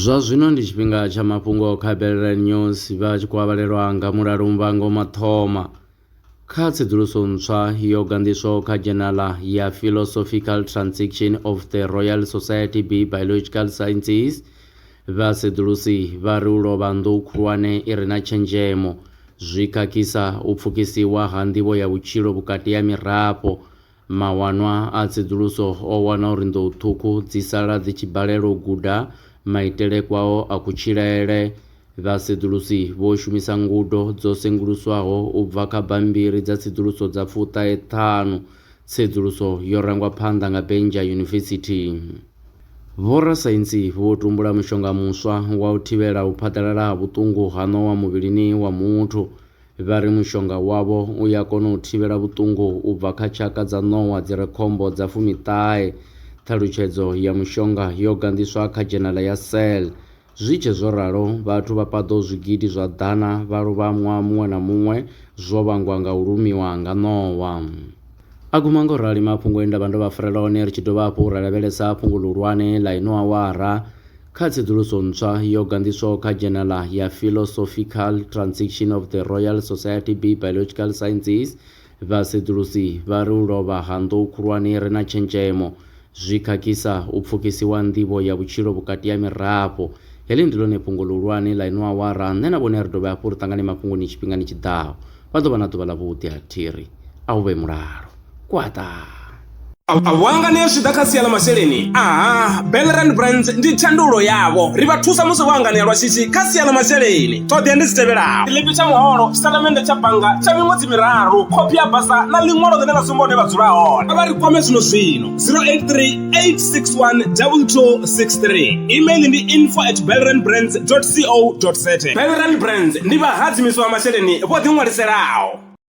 zwa zwino ndi tshifhinga tsha mafhungo kha belelela news vha tshi khou avhalelwa nga mulalo muvhango mathoma kha tsedzuluso ntswa yo ganḓiswaho kha dzhenala ya philosophical transaction of the royal society b biological sciences vha sedzulusi vha ri u lovha nḓou khulwane i re na tshenzhemo zwi khakhisa u pfukisiwa ha nḓivho ya vhutshilo vhukati ha mirafho Mawanwa a tsedzuluso o wana uri nḓou ṱhukhu dzi sala dzi tshi balelwa u guda maitele kwao a kutshilele. Vhasedzulusi vho shumisa ngudo dzo senguluswaho u bva kha bammbiri dza tsedzuluso dza fuṱahe ṱhanu. Tsedzuluso yo rangwa phanḓa nga Benja University. Vhorasaintsi vho tumbula mushonga muswa wa u thivhela u phaḓalala ha vhuṱungu ha ṋowa muvhilini wa muthu. Vha ri mushonga wavho u ya kona u thivhela vhuṱungu u bva kha tshaka dza ṋowa dzi re khombo dza fumiṱahe. Ṱhalutshedzo ya mushonga yo ganḓiswa kha dzhenala ya Cell. Zwi tshe zwo ralo, vhathu vha paḓaho zwigidi zwa ḓana vha lovha ṅwaha muṅwe na muṅwe zwo vhangwa nga u lumiwa nga ṋowa. A guma nga u rali mafhungo e nda vha ndo vha farela one ri tshi dovha hafhu ra lavhelesa fhungo ḽihulwane ḽa ino awara kha tsedzuluso ntswa yo ganḓiswaho kha dzhenala ya Philosophical Transition of the Royal Society B Biological Sciences. Vhasedzulusi vha ri u lovha ha nḓou khulwane ri na tshenzhemo Zwi khakhisa u pfukisiwa nḓivho ya vhutshilo vhukati ha mirafho. Heḽi ndi ḽone fhungo ḽihulwane ḽa ino awara. Nṋe na vhone a ri dovhe hafhu ri ṱangane mafhungoni tshifhingani tshi ḓaho. Vha ḓo vha na ḓuvha ḽavhuḓi ha thiri. A hu vhe mulalo. Kwaṱaa! A vho angana zwi tshi ḓa kha sia ḽa masheleni? Aha, Bellerand Brands ndi thandululo yavho. Ri vha thusa musi vho anganea lwa shishi kha sia ḽa masheleni. Ṱhoḓea ndi dzi tevhelaho, tshiḽipi tsha muholo, tshitatamennde tsha bannga tsha miṅwedzi miraru khophi ya basa na ḽiṅwalo ḽine ḽa sumba hune vha dzula hone vha ri kwame zwino zwino 0838612263 email ndi info at belrandbrands co za belrand brands ndi vhahadzimiswa masheleni vho ḓiṅwaliselaho